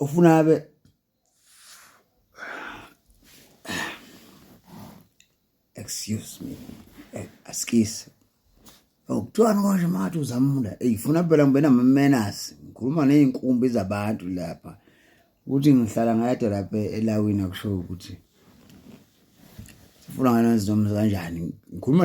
ufuna abe excuse me eh, askise okuthiwani konje makathi uzamula eyi funa phela ngibe namamenasi ngikhuluma ney'nkumbi zabantu lapha ukuthi ngihlala ngayede lapha elawini akusho ukuthi sifuna nganezinomuzi kanjani ngikhuluma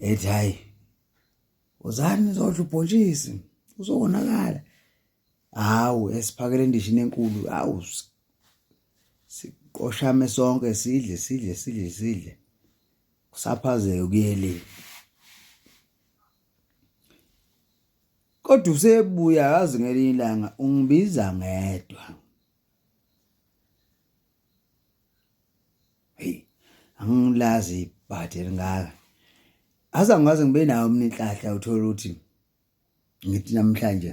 ethi hayi uzani uzodla ubhontshisi uzowonakala hawu esiphakele endishini enkulu hawu siqoshame sonke sidle sidle sidle sidle kusaphazeke kuyele kodwa usebuya yazi ngelinye ilanga ungibiza ngedwa hey angilazi ibhadi elingaka aza ngaze ngibe nawo mina inhlahla uthola ukuthi ngithi namhlanje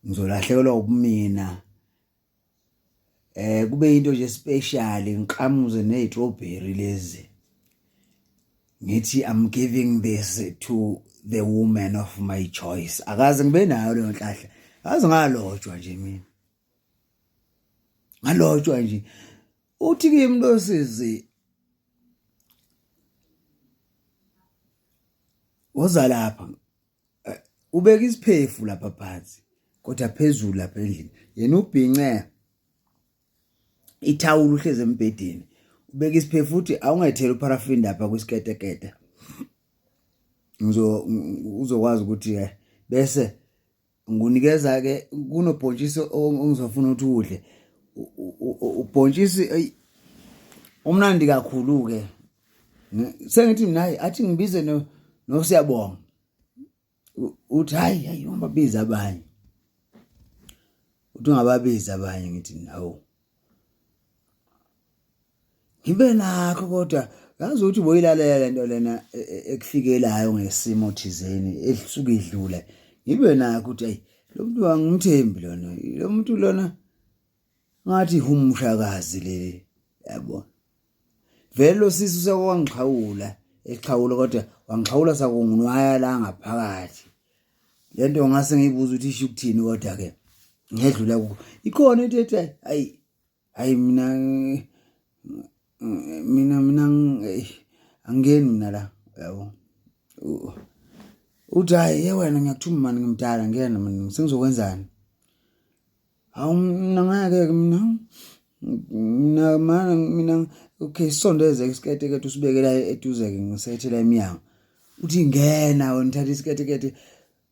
ngizolahlekelwa ubumina eh kube into nje special ngiqhamuze nezitrawberry lezi ngithi i'm giving this to the woman of my choice akaze ngibe nayo leyo nhlahla azi ngalotshwa nje mina ngalotshwa nje uthi kimi losizi woza lapha eh, ubeka isiphefu lapha phansi kodwa phezulu lapha endlini yena ubhince ithawula uhleze embhedeni ubeka isiphefu futhi awungethela uparaffin lapha kwisiketekete uzokwazi ukuthi eh, bese ngunikeza ke kunobhontshisi ongizofuna ukuthi udle ubhontshisi eyi umnandi kakhulu ke sengithi mina hayi athi ngibize no nosiyabonga uthi hayi hayi ungababiza abanye uthi ungababiza abanye ngithi nawo ngibe nakho kodwa ngazi ukuthi boyilalela le nto lena e, e, ekufikelayo ngesimo thizeni elisuke idlule ngibe nakho ukuthi ayi lo muntu angimthembi lona lo muntu lona ngathi humshakazi leli yabo vele lo sisi usekwangixhawula exhawula kodwa wangixhawula sakungunwaya la ngaphakathi le nto ngase ngiyibuza ukuthi isho ukuthini kodwa-ke ngedlula kuko ikhona into ethi ayi hayi mina mina mina angeni mina la yabo uthi hayi ye wena ngiyakuthuma mani ngimdala ngiyena mina sengizokwenzani hawu mina ngeke-ke mina mina mana mina okay sisondeze isikete kade usibekela eduze-ke ngisethela emnyango uthi ngena wena uthatha isikete kade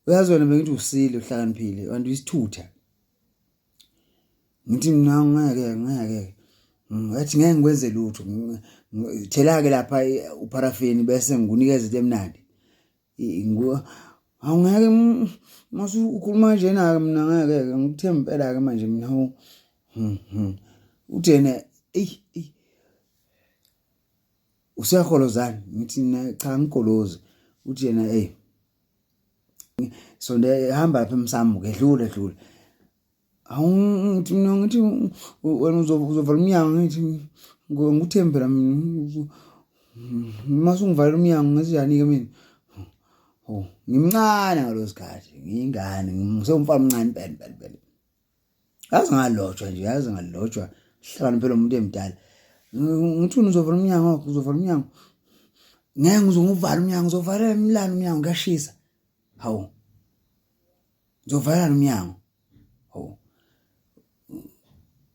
uyazi wena bengithi usile uhlakaniphile kanti uyisithutha ngithi mina ngeke ngeke ngathi ngeke ngikwenze lutho thela-ke lapha upharafini bese ngikunikeza into emnandi awungeke mase ukhuluma njena-ke mina ngeke-ke ngikuthe impela-ke manje mina hmm, hmm. uthi yena eyi eyi useyaholozani ngithi mina cha ngigolozi uthi yena eyi so ndihamba lapha emsamu ke dlule dlule awungithi mina ngithi wena uzovala umnyango ngithi nguthembi phela mina uma sungivalela umnyango ngezinjani-ke mina oh ngimncane ngalo sikhathi ngiyingane ngisewumfana omncane impela impela impela yazi ngalotshwa nje yazi ngalotshwa hlakani phela umuntu emdala ngithuni uzovala umnyango wakho uzovala umnyango ngeke ngizonguvala umnyango uzovalela imlalo umnyango kuyashisa hawu ngizovalelana umnyango hawu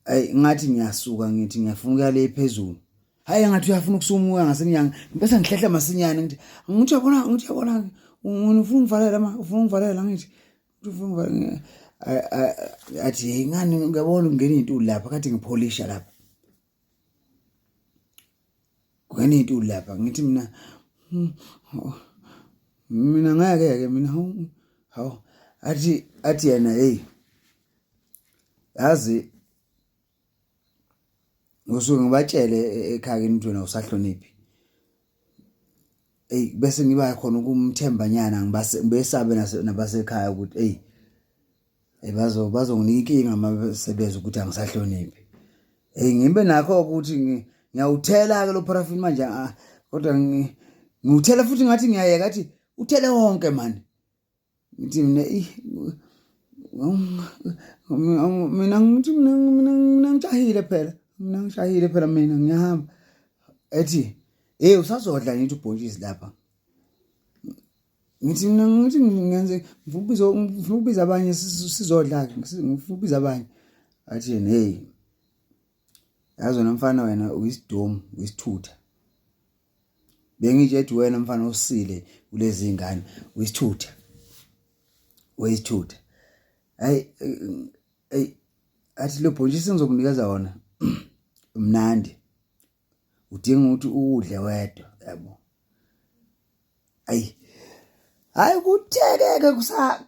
ayi ngathi ngiyasuka ngithi ngiyafuna ukuya le phezulu hayi ngathi uyafuna ukusumuka ngasemnyango ngibese ngihlehla masinyane ngithi ngithi yabona ngithi yabona ufuna ungivalela ma ufuna ungivalela ngithi athi hey ngani ngiyabona ungena intuli lapha kathi ngipholisha lapha kungena intuli lapha ngithi mina hmm, oh, mina ngeke ke mina hawu athi athi yena hey yazi ngosuke ngibatshele e-, ekhaya kini ukuthi wena usahloniphi eyi bese ngiba khona ukumthembanyana ngibesabe nabasekhaya ukuthi eyi eh, bazo bazonginika inkinga uma sebeza ukuthi angisahloniphi eyi ngibe nakho ukuthi ngiyawuthela-ke lo parafini manje ah, kodwa ngiwuthela futhi ngathi ngiyayeka athi uthele wonke mani ngithi mina mina ngithi mina mina mina ngijahile phela mina ngishayile phela mina ngiyahamba ethi hey usazodla ngithi ubhontshisi lapha ngithi mina ngithi ngenze ngifuna ukubiza abanye sizodla ke ngifuna ukubiza abanye athi yena hey yazi wena mfana wena uyisidomu uyisithutha bengitshe ethi wena mfana usile kulezi ngane uyisithutha wayisithutha hayi hey athi lo bhontshisi ngizokunikeza wona mnandi udinga ukuthi uwudle wedwa yabo ayi hayi kuthekeke kusa